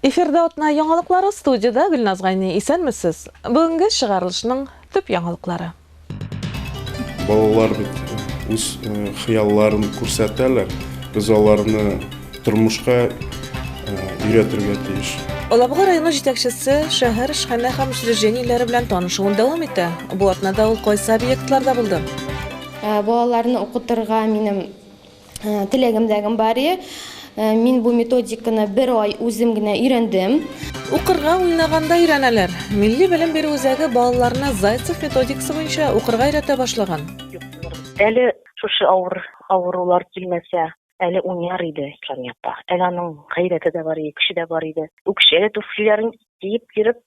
Эфирда атна яңалыклары студияда Гөлназ Гайни. Исәнмесез. Бүгенге чыгарылышның төп яңалыклары. Балалар бит үз хыялларын күрсәтәләр. Без аларны тормышка өйрәтергә тиеш. Алабуга районы җитәкчесе шәһәр эшханә һәм учреждениеләре белән танышуын дәвам итә. Бу атнада ул кайсы объектларда булды? Балаларны укытырга минем Э, теләгем дәгем бар э, мин бу методиканы бер ай үзем генә өйрәндем укырга уйнаганда өйрәнәләр милли белем бирү үзәге балаларны зайцев методикасы буенча укырга өйрәтә башлаган әле шушы авыр авырулар килмәсә әле уйнар иде ислам апа әле аның гайрәте дә бар иде көче дә бар иде үкчәгә түфлиләрен киеп йөреп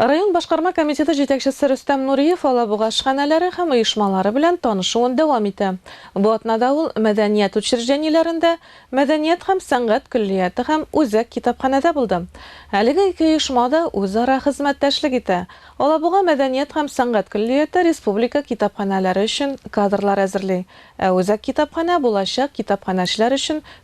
Район башкарма комитеты җитәкчесе Рөстәм Нуриев Алабуга ашханәләре һәм оешмалары белән танышуын дәвам итә. Бу атнада ул мәдәният учреждениеләрендә, мәдәният һәм сәнгать көллияте һәм үзәк китапханәдә булды. Әлеге ике оешма да үзара хезмәттәшлек итә. Алабуга мәдәният һәм сәнгать көллияте республика китапханәләре өчен кадрлар әзерли, ә үзәк китапханә булачак китапханәчеләр өчен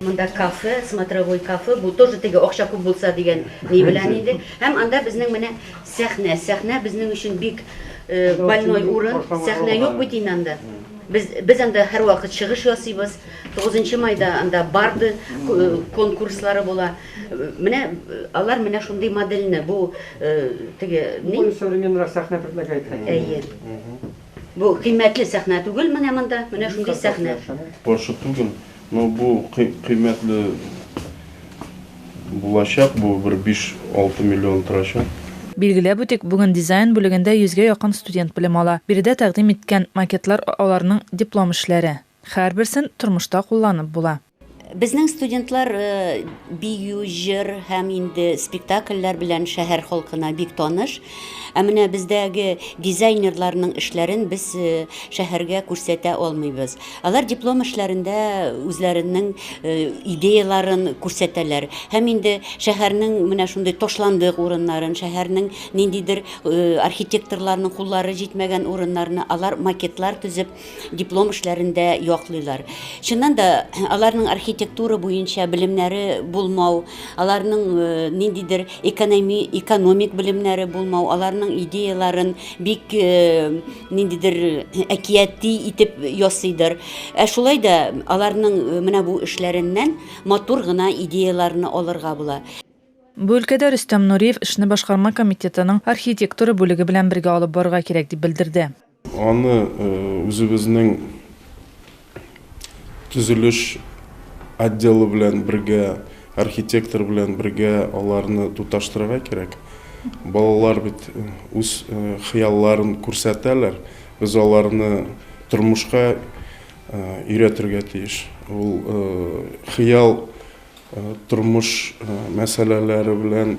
Монда кафе, смотровой кафе, бу тоже теге акча күп булса дигән ни белән инде. Һәм анда безнең менә сәхнә, сәхнә безнең өчен бик больной урын, сәхнә юк бит инде анда. Без без анда һәрвакыт чыгыш ясыйбыз. 9 майда анда барды конкурслары була. Менә алар менә шундый модельне, бу теге ни? Современный сәхнә предлагает. Әйе. Бу кыйммәтле сәхнә түгел менә монда, менә шундый сәхнә. Каршы түгел, но бу кыйммәтле булачак, бу бер биш, алты миллион торачак. Билгеләп үтик, бүген дизайн бүлегендә йөзгә якын студент белем ала. Биредә тәкъдим иткән макетлар аларның диплом эшләре. Хәрберсен тормышта кулланып була. Безнең студентлар бию, җыр һәм инде спектакльләр белән шәһәр халкына бик таныш. Ә менә бездәге дизайнерларның эшләрен без шәһәргә күрсәтә алмыйбыз. Алар диплом эшләрендә үзләренең идеяларын күрсәтәләр. Һәм инде шәһәрнең менә шундый ташландык урыннарын, шәһәрнең ниндидер архитекторларның куллары җитмәгән урыннарны алар макетлар төзеп, диплом эшләрен дә яклыйлар. Чыннан да, аларның архитектура буенча белемнәре булмау, аларның э, ниндидер экономи, экономик белемнәре булмау, аларның идеяларын бик э, ниндидер э, әкияти итеп ясыйдыр. Ә шулай да аларның э, менә бу эшләреннән матур гына идеяларны алырга була. Бу өлкәдә Рөстәм Нуриев эшне башкарма комитетының архитектура бүлеге белән бергә алып барырга кирәк дип белдерде. Аны үзебезнең төзелеш отделы белән бергә, архитектор белән бергә аларны тоташтырырга кирәк. Балалар бит үз хыялларын күрсәтәләр, без аларны тормышка өйрәтергә тиеш. Ул хыял. тормыш мәсьәләләре белән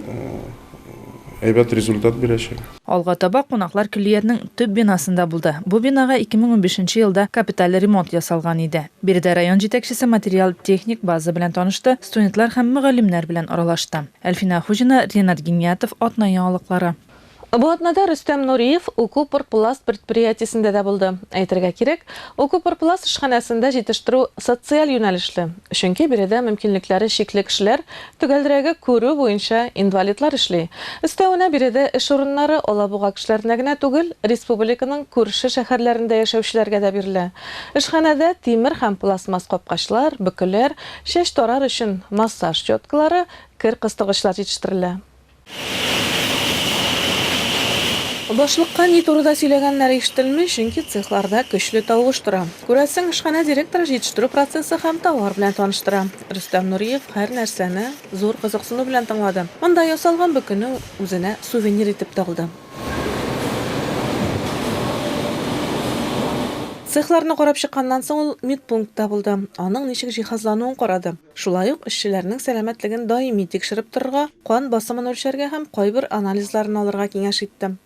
әйбәт результат бирәчәк. Алга таба кунаклар көллиятнең төп бинасында булды. Бу бинага 2015 елда капиталь ремонт ясалган иде. Биредә район җитәкчесе материаль-техник база белән танышты, студентлар һәм мөгаллимнәр белән аралашты. Әлфинә Хуҗина, Ренат Гиниятов, Атна яңалыклары. Бу атнада Рөстәм Нуриев Укупорпласт предприятиесендә дә булды. Әйтергә кирәк, Укупорпласт эшханәсендә җитештерү социаль юнәлешле, чөнки биредә мөмкинлекләре чикле кешеләр, төгәлрәге күрү буенча инвалидлар эшли. Өстәвенә биредә эш урыннары Алабуга кешеләренә генә түгел, республиканың күрше шәһәрләрендә яшәүчеләргә дә бирелә. Эшханәдә тимер һәм пластмасс капкачлар, бөкеләр, чәч тарар өчен массаж щеткалары, кер кыстыргычлар җитештерелә. Башлыкка ни турыда сөйләгәннәре ишетелми, чөнки цехларда көчле тавыш тора. Күрәсең, эшханә директоры җитештерү процессы һәм товар белән таныштыра. Рөстәм Нуриев һәрнәрсәне зур кызыксыну белән тыңлады. Монда ясалган бөкене үзенә сувенир итеп тә алды. Цехларны карап чыкканнан соң ул медпунктта булды, аның ничек җиһазлануын карады. Шулай ук эшчеләрнең сәламәтлеген даими тикшереп торырга, кан басымын үлчәргә һәм кайбер анализларын алырга киңәш иттем.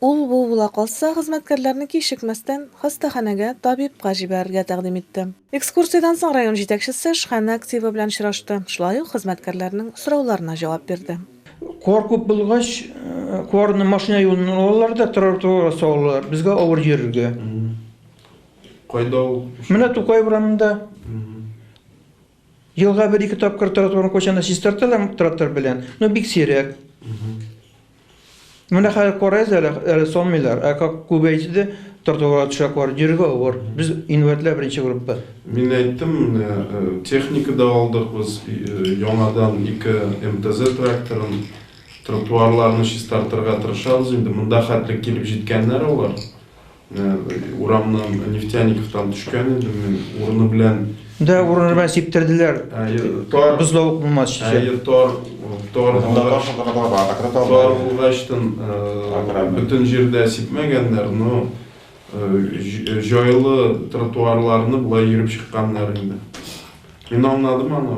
Ул бу була калса, хезмәткәрләрне кичекмәстән хастаханәгә, табибка җибәрергә тәкъдим итте. Экскурсиядән соң район җитәкчесе эшханә активы белән очрашты, шулай ук хезмәткәрләрнең сорауларына җавап бирде. Кар күп булгач, карны машина юлыннан алалар да тротуарга салалар, безгә авыр йөрергә. Кайда ул? Менә Тукай урамында. Елга бер ике тапкыр тротуарны кочана чистарталар трактор белән, но бик сирәк. Менә хәзер карайыз әле, әле салмыйлар, ә как күбәйде, тротуарга төшәкләр, йөрергә авыр. Без инвалидлар беренче группа. Мин әйттем, менә э, техника да алдык без, э, яңадан ике МТЗ тракторын, тротуарларны чистартырга тырышабыз инде. Монда хәтле килеп җиткәннәр алар. Урамнан Нефтяниковтан төшкән идем мин, урыны белән Да, урыны белән сиптерделәр. Тар бозлавык булмас өчен. Әйе, тар, тар булгач, тар булгачтын бөтен җирдә сипмәгәннәр, но җайлы тротуарларны болай йөреп чыкканнар инде. Мин аңладым аны.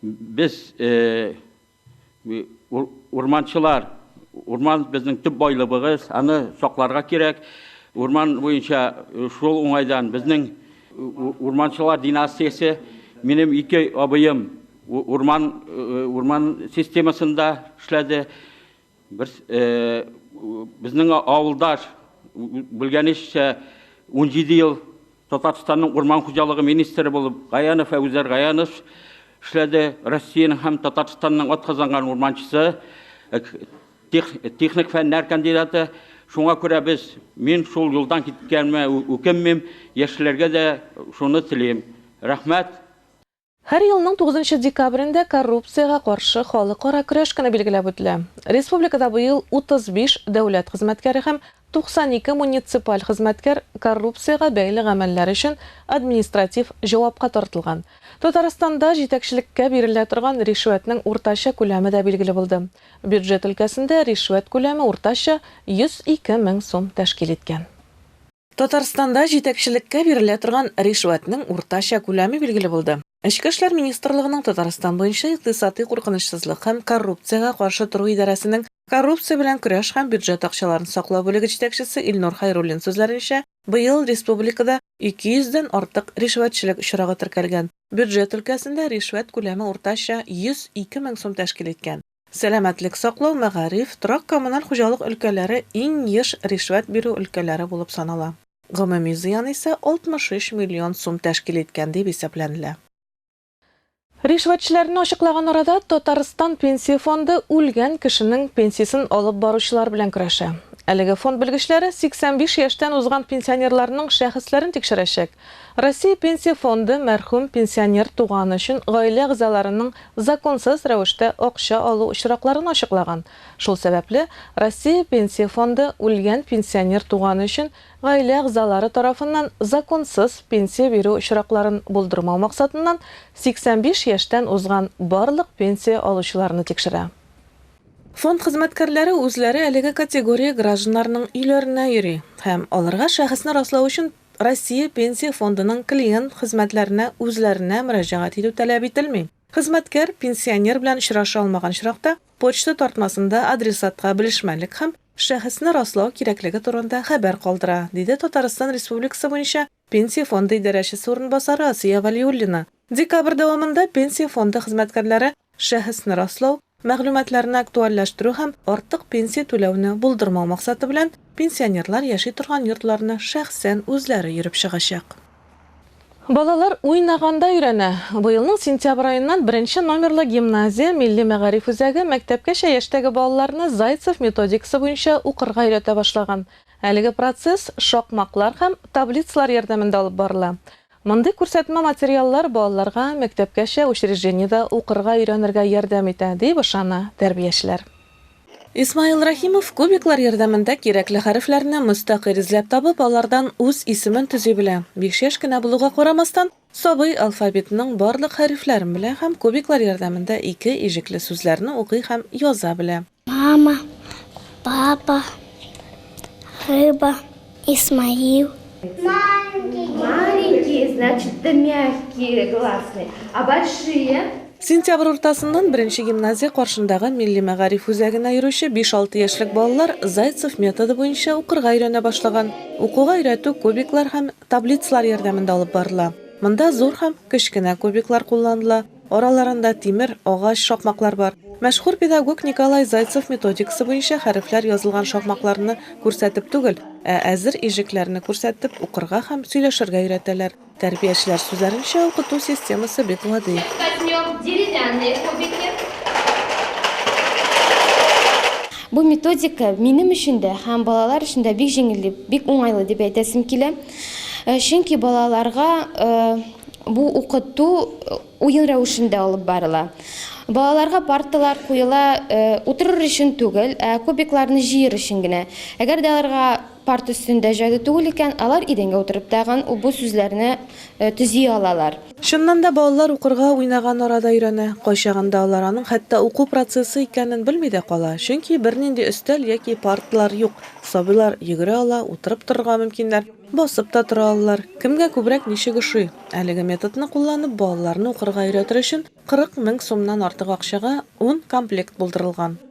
Без, урманчылар, урман безнең төп байлыбыгыз, аны сакларга кирәк. Урман буенча шул уңайдан безнең урманчылар династиясе, минем ике абыем урман системасында эшләде. Бер безнең авылдаш белгәнеччә 17 ел Татарстанның урман хуҗалыгы министры булып Гаянов Әбүзәр Гаянович эшләде. Россиянең һәм Татарстанның атказанган урманчысы, техник фәннәр кандидаты. Шуңа күрә без, мин шул юлдан киткәнемә үкенмим, яшьләргә дә шуны телим. Рәхмәт! Һәр елның тугызынчы декабрендә коррупциягә каршы халыкара көрәш көне билгеләп үтелә. Республикада быел 35 дәүләт хезмәткәре һәм 92 муниципаль хезмәткәр коррупциягә бәйле гамәлләр өчен административ җавапка тартылган. Татарстанда җитәкчелеккә бирелә торган ришвәтнең уртача күләме дә билгеле булды. Бюджет өлкәсендә ришвәт күләме уртача 102 мең сум тәшкил иткән. Татарстанда җитәкчелеккә бирелә торган ришвәтнең уртача күләме билгеле булды. Эчке эшләр министрлыгының Татарстан буенча икътисади куркынычсызлык һәм коррупциягә каршы тору идарәсенең коррупция белән көрәш һәм бюджет акчаларын саклау бүлеге җитәкчесе Илнур Хайруллин сүзләренчә, быел республикада 200 дән артык ришвәтчелек очрагы теркәлгән. Бюджет өлкәсендә ришвәт күләме уртача 102 мең сум тәшкил иткән. Сәламәтлек саклау, мәгариф, торак-коммуналь хуҗалык өлкәләре иң еш ришвәт бирү өлкәләре булып санала. Гомуми зыян исә 63 миллион сум тәшкил иткән дип исәпләнелә. Ришвәтчеләрне ачыклаган арада Татарстан Пенсия фонды үлгән кешенең пенсиясен алып баручылар белән көрәшә. Әлеге фонд белгечләре 85 яшьтән узган пенсионерларның шәхесләрен тикшерәчәк, Россия Пенсия фонды мәрхүм пенсионер туганы өчен гаилә әгъзаларының законсыз рәвештә акча алу очракларын ачыклаган. Шул сәбәпле, Россия Пенсия фонды үлгән пенсионер туганы өчен гаилә әгъзалары тарафыннан законсыз пенсия бирү очракларын булдырмау максатыннан 85 яшьтән узган барлык пенсия алучыларны тикшерә. Фонд хезмәткәрләре үзләре әлеге категория гражданнарның өйләренә йөри һәм аларга шәхесне раслау өчен Россия Пенсия фондының клиент хезмәтләренә үзләренә мөрәҗәгать итү таләп ителми. Хезмәткәр пенсионер белән очраша алмаган очракта, почта тартмасында адресатка белешмәлек һәм шәхесне раслау кирәклеге турында хәбәр калдыра, диде Татарстан Республикасы буенча Пенсия фонды идарәчесе урынбасары Асия Вәлиуллина Декабрь дәвамында Пенсия фонды хезмәткәрләре шәхесне раслау, мәгълүматларны актуальләштерү һәм артык пенсия түләүне булдырмау максаты белән пенсионерлар яши торган йортларны шәхсән үзләре йөреп чыгачак. Балалар уйнаганда өйрәнә! Быелның сентябрь аеннан беренче номерлы гимназия, милли мәгариф үзәге мәктәпкәчә яшьтәге балаларны Зайцев методикасы буенча укырга өйрәтә башлаган. Әлеге процесс шакмаклар һәм таблицалар ярдәмендә алып барыла. Мондый күрсәтмә материаллар балаларга мәктәпкәчә учреждениедә укырга өйрәнергә ярдәм итә, дип ышана тәрбиячеләр. Исмаил Рәхимов кубиклар ярдәмендә кирәкле хәрефләрне мөстәкыйль эзләп табып, алардан үз исемен төзи белә. Биш яшь кенә булуга карамастан, сабый алфавитның барлык хәрефләрен белә һәм кубиклар ярдәмендә ике иҗекле сүзләрне укый һәм яза белә. Мама, папа, рыба, Исмаил. Маленький. Маленький, значит, ты мягкие гласные. А большие? Сентябрь уртасыннан беренче гимназия каршындагы милли мәгариф үзәгенә йөрүче 5-6 яшьлек балалар Зайцев методы буенча укырга өйрәнә башлаган. Укуга өйрәтү кубиклар һәм Таблицалар ярдәмендә алып барыла. Монда зур һәм кечкенә кубиклар кулланыла, араларында тимер, агач шакмаклар бар. Мәшһүр педагог Николай Зайцев методикасы буенча хәрефләр язылган шакмакларны күрсәтеп түгел, ә әзер иҗекләрне күрсәтеп укырга һәм сөйләшергә өйрәтәләр. Тәрбиячеләр сүзләренчә, укыту системасы бик гади. Бу методика минем өчен дә һәм балалар өчен дә бик җиңел дип, бик уңайлы дип әйтәсем килә. Чөнки балаларга бу укыту уен рәвешендә алып барыла. Балаларга парталар куела утырыр өчен түгел, ә кубикларны җыер өчен генә. Әгәр дә аларга парта өстендә җайлы түгел икән, алар идәнгә утырып тагын бу сүзләрне төзи алалар. Чыннан да, балалар укырга уйнаган арада өйрәнә. Кайчагында алар аның хәтта уку процессы икәнен белми дә кала, чөнки бернинди өстәл яки парталар юк. Сабыйлар йөгерә ала, утырып торырга мөмкиннәр, басып та тора алалар. Кемгә күбрәк ничек ошый? Әлеге методны кулланып, балаларны укырга өйрәтер өчен 40 мең сумнан артык акчага ун комплект булдырылган.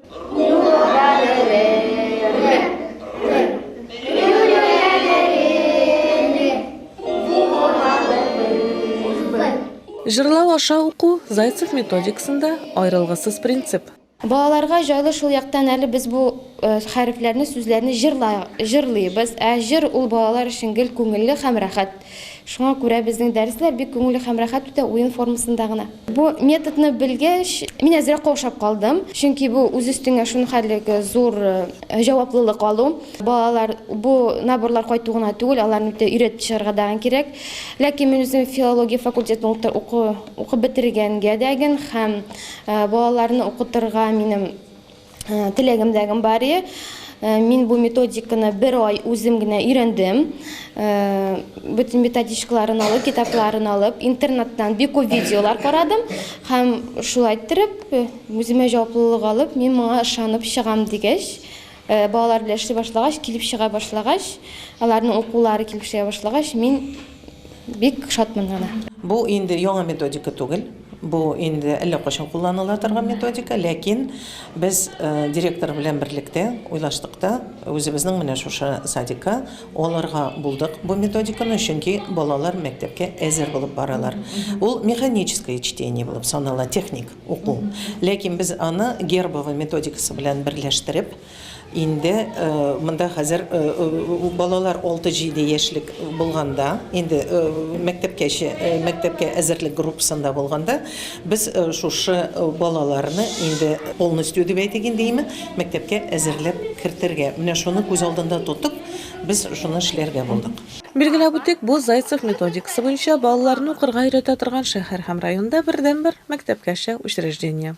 Җырлау аша уку Зайцев методикасында аерылгысыз принцип. Балаларга җайлы шул яктан әле без бу э, хәрефләрне, сүзләрне җырлый, җырлыйбыз. Ә җыр ул балалар өчен гел күңелле һәм рәхәт. Шуңа күрә безнең дәресләр бик күңелле һәм рәхәт үтә, уен формасында гына. Бу методны белгәч, мин әзрәк каушап калдым, чөнки бу үз өстеңә шунхәлле зур җаваплылык алу. Балалар бу наборлар кайту гына түгел, аларны бит өйрәтеп чыгарга дагын кирәк. Ләкин мин үзем филология факультетын укып бетергәнгә дәген һәм балаларны укытырга минем Э, теләгем дәгем бар э, мин бу методиканы бер ай үзем генә өйрәндем э, бөтен методичкаларын алып китапларын алып интернеттан бик күп видеолар карадым һәм шулай иттереп үземә җаваплылык алып мин моңа ышанып чыгам дигәч балалар белән эшли башлагач килеп чыга башлагач аларның укулары килеп чыга башлагач мин Бик шатмын аны. Бу инде яңа методика түгел. Бу инде әллә кайчан кулланыла торган методика, ләкин без директор белән берлектә уйлаштык та, үзебезнең менә шушы садикка алырга булдык бу методиканы, чөнки балалар мәктәпкә әзер булып баралар. Ул механическое чтение булып санала, техник уку. Ләкин без аны Гербова методикасы белән берләштереп, Инде монда хәзер балалар алты-җиде яшьлек булганда, инде мәктәпкәчә, мәктәпкә әзерлек группасында булганда, без шушы балаларны инде полностью дип әйтик инде име, мәктәпкә әзерләп кертергә, менә шуны күз алдында тотып, без шуны эшләргә булдык. Билгеләп үтик, бу Зайцев методикасы буенча балаларны укырга өйрәтә торган шәһәр һәм районда бердәнбер мәктәпкәчә учреждение.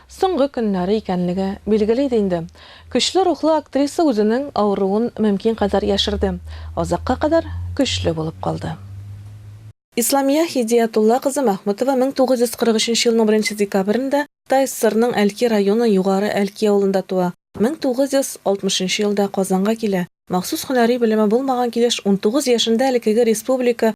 Соңгы көннәре икәнлеге билгеле иде инде. Көчле рухлы актриса үзенең авыруын мөмкин кадәр яшерде, азакка кадәр көчле булып калды. Исламия Һидиятулла кызы Мәхмүтова 1943 елның беренче декабрендә Кытай ССРның Әлки районы Югары Әлки авылында туа, 1960 елда Казанга килә, махсус һөнәри белеме булмаган килеш унтугыз яшендә элеккеге республика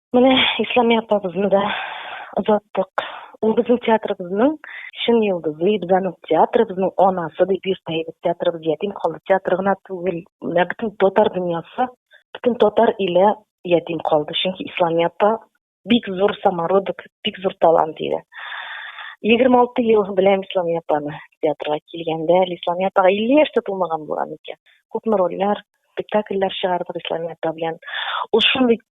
Менә Исламия апабызны да озаттык. Ул безнең театрыбызның чын йолдызы, без аның театрыбызның анасы дип йөртә идек. Театрыбыз ятим калды. Театр гына түгел, менә бөтен татар дөньясы, бөтен татар иле ятим калды. Чөнки Исламия апа бик зур самородок, бик зур талант иде. 26 ел беләм Исламия апаны. Театрга килгәндә әле Исламия апага 50 яшь тә тулмаган булган икән. Күпме рольләр, спектакльләр чыгардык Исламия апа белән. Ул шундый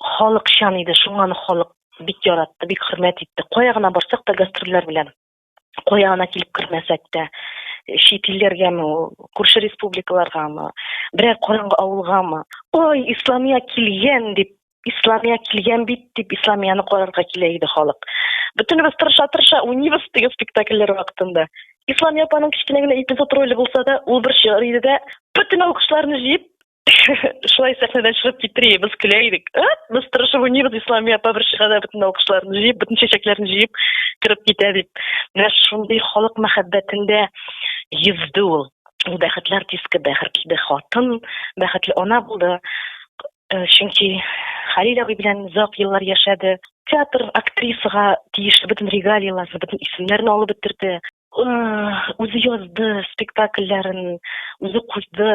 халыкчан иде, шуңа аны халык бик яратты, бик хөрмәт итте. Кая гына барсак та гастрольләр белән, кая гына килеп кермәсәк тә, чит илләргәме, күрше республикаларгамы, берәр караңгы авылгамы, ой, Исламия килгән дип, Исламия килгән бит дип, Исламияны карарга килә иде халык. Бөтенебез тырыша-тырыша уйныйбыз теге спектакльләр вакытында. Исламия апаның кечкенә генә эпизод роле булса да, ул бер чор иде дә, бөтен алкышларны җыеп, шулай сәхнәдән чыгып китриебез көлә идек настороживаниебез исламия апа бер чыгада бөтен алкышларны җыеп бөтен чәчәкләрне җыеп кереп китә дип менә шундый халык мәхәббәтендә йөзде ул ул бәхетләр диске бәхетле хатын бәхетле ана булды э, чөнки хәлил абый белән озак еллар яшәде театр актрисага тиешле бөтен регалияләрне бөтен исемнәрне алып бетерде үзе язды спектакльләрен үзе куйды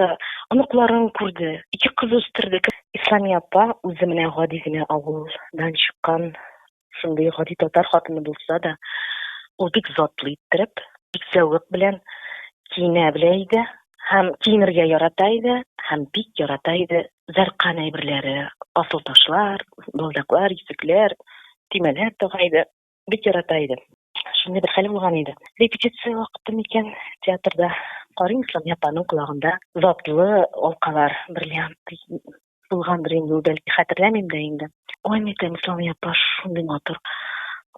оныкларын күрде ике кыз үстерде исламия апа үзе менә гади генә авылдан чыккан шундый гади татар хатыны булса да ул бик затлы иттереп бик зәвык белән киенә белә иде һәм киенергә ярата иде һәм бик ярата иде зәркан әйберләре асыл ташлар балдаклар йөзекләр төймәләр тага иде бик ярата иде. Шундый бер хәл булган иде. Репетиция вакыты микән театрда карыйм Исламия апаның колагында затлы алкалар, бриллиант булгандыр инде ул бәлки, хәтерләмим дә инде. Ой, микән Исламия апа шундый матур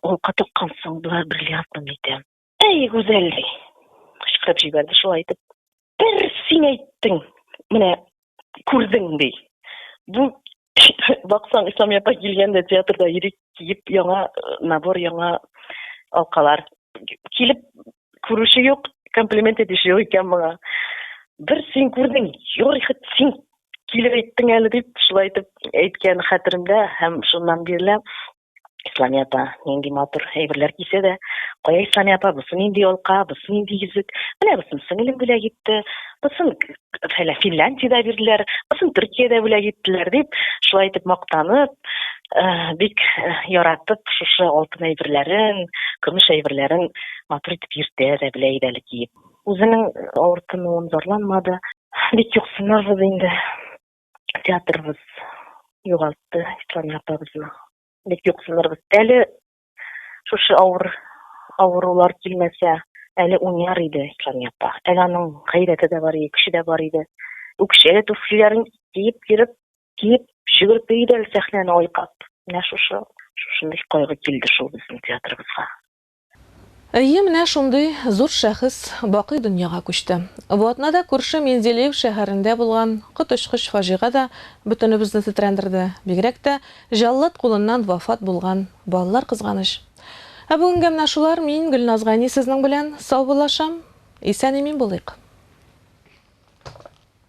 алка таккансың, болар бриллиантмы микән? Әй, гүзәл! кычкырып җибәрде шулай итеп. Бер син әйттең, менә күрдең, ди. Бу баксаң, Ислам апа килгәндә театрда ирек киеп, яңа э, набор, яңа алкалар. Килеп күрүче юк, комплимент итүче юк икән моңа. Бер син күрдең, юрый хет син килеп әйттең әле дип, шулай итеп әйткән хәтеремдә һәм шуннан бирле Исламия апа нинди матур әйберләр кисә дә, кая Исламия апа, бусы нинди алка, бусы нинди йөзек, менә бусын сеңелем бүләк итте, бусын фәлә Финляндиядә бирделәр, бусын Төркиядә бүләк иттеләр дип, шулай итеп мактанып, э, бик э, яратып шушы алтын әйберләрен, көмеш әйберләрен матур итеп йөртә дә белә иде әле киеп. Үзенең авыртынуын зарланмады. Бик юксынабыз инде. театрыбыз югалтты Ислам апабызны. Бик юксынырбыз. Әле шушы авыр авырулар килмәсә, әле уйнар иде Ислам апа. Әле аның гайрәте дә бар иде, көче дә бар иде. Үкчәле туфлиләрен киеп киреп, киеп шөгереп йөри иде әле сәхнәне айкап. Менә шушы шушындый кайгы килде шул безнең театрыбызга. Әйе, менә шундый зур шәхес бакый дөньяга күчте. Ватнада күрше Менделеев шәһәрендә булган коточкыч фаҗига да бөтенебезне тетрәндерде, бигрәк тә җаллад кулыннан вафат булган балалар, кызганыч. Ә бүгенгә менә шулар, мин, Гөлназ Гайни сезнең белән саубуллашам. Исән-имин булыйк!